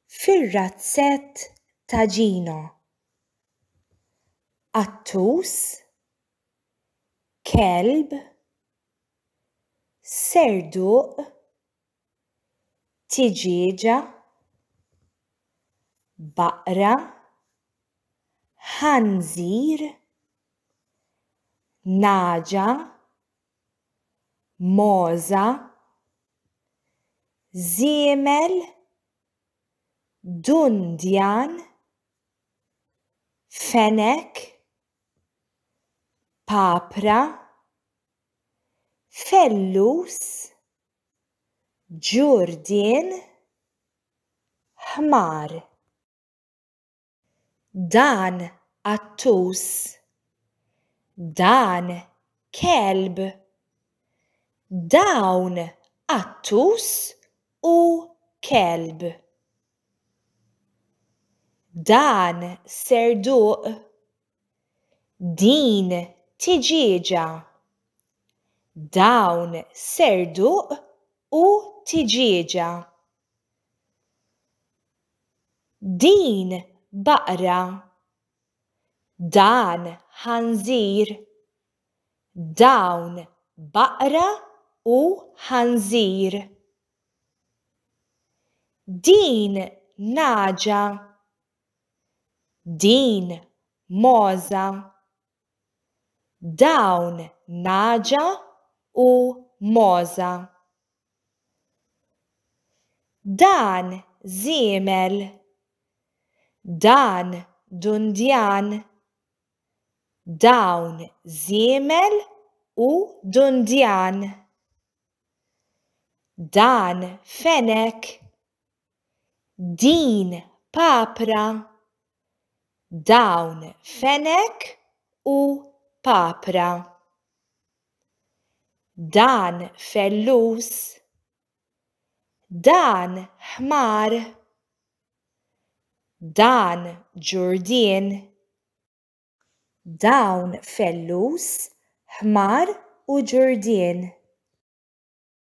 fir-razzett ta' Gino. Qattus, kelb, serduq, tiġieġa, baqra, ħanżir, nagħġa, mogħża, żiemel, dundjan, fenek, papra, fellus, ġurdien, ħmar. Dan qattus. Dan kelb. Dawn qattus u kelb. Dan serduq. Din tiġieġa. Dawn serduq u tiġieġa. Din baqra. Dan ħanżir. Dawn baqra u ħanżir. Din nagħġa. Din mogħża. dawn nagħġa u mogħża. Dan żiemel, dan dundjan, dawn żiemel u dundjan, dan fenek, Din papra, dawn fenek u papra. Dan fellus, dan ħmar, dan ġurdien. Dawn fellus, ħmar u ġurdien.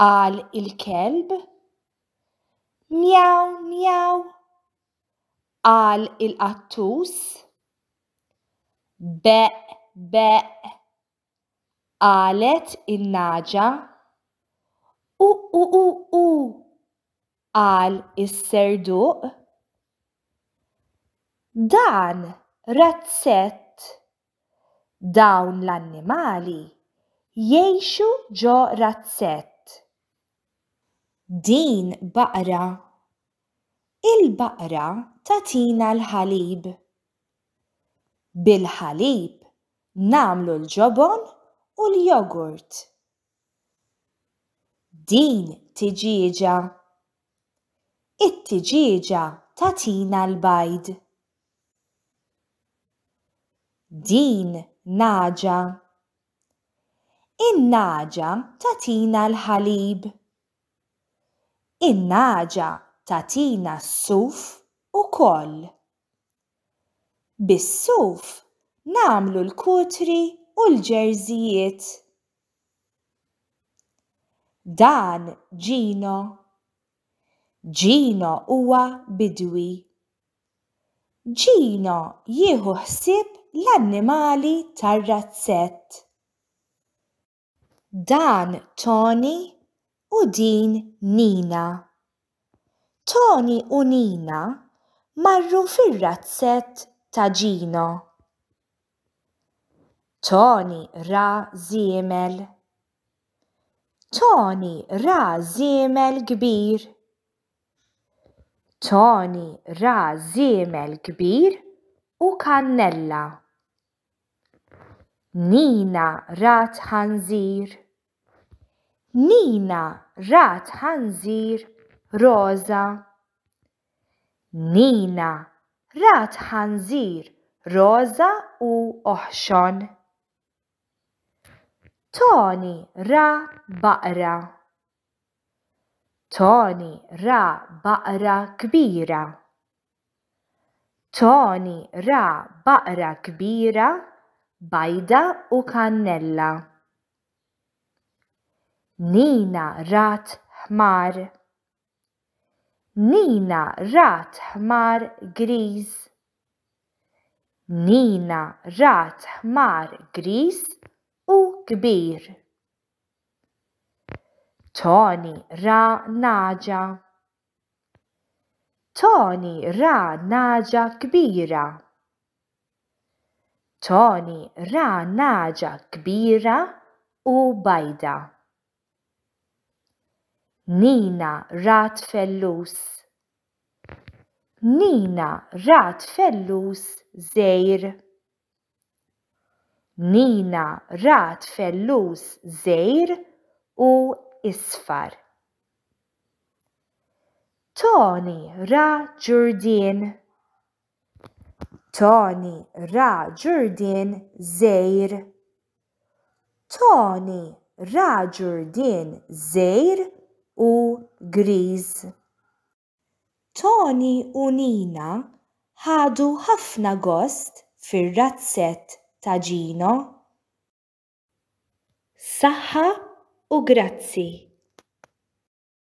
Qal il-kelb. Mjaw, mjaw. Qal il-qattus. Beq, beq. Qalet in-naġa. U, u, u, u. Qal is-serduq. Dan razzett Dawn l-annimali jgħixu ġo razzett. Din baqra. Il-baqra tagħtina l-ħalib. Bil-ħalib nagħmlu l-ġobon u l-jogurt. Din tiġieġa. It-tiġieġa tagħtina l-bajd. Din naġa. In-naġa tagħtina l-ħalib. In-naġa tagħtina s-suf ukoll. Bis-suf nagħmlu l-kutri u l-ġerżijiet. Dan Gino. Gino huwa bidwi. Gino jieħu ħsieb l-annimali tar-razzett. Dan Toni u din Nina. Toni u Nina marru fir-razzett ta' Gino. Toni ra żiemel. Toni ra żiemel kbir. Toni ra żiemel kbir u kannella. Nina rat ħanżir. Nina rat ħanżir roża. Nina rat ħanżir roża u oħxon. Tony ra baqra. Tony ra baqra kbira. Tony ra baqra kbira bajda u kannella. Nina rat ħmar. Nina rat ħmar griż. Nina rat ħmar griż u kbir. Toni ra nagħġa. Toni ra nagħġa kbira. Toni ra nagħġa kbira u bajda. Nina rat fellus. Nina rat fellus żgħir. Nina rat fellus żgħir u isfar. Tony ra ġurdien. Toni ra Ġurdien żgħir. Toni ra Ġurdien żgħir u griż. Toni u Nina ħadu ħafna gost fir-razzett ta' Gino. Saħħa u grazzi.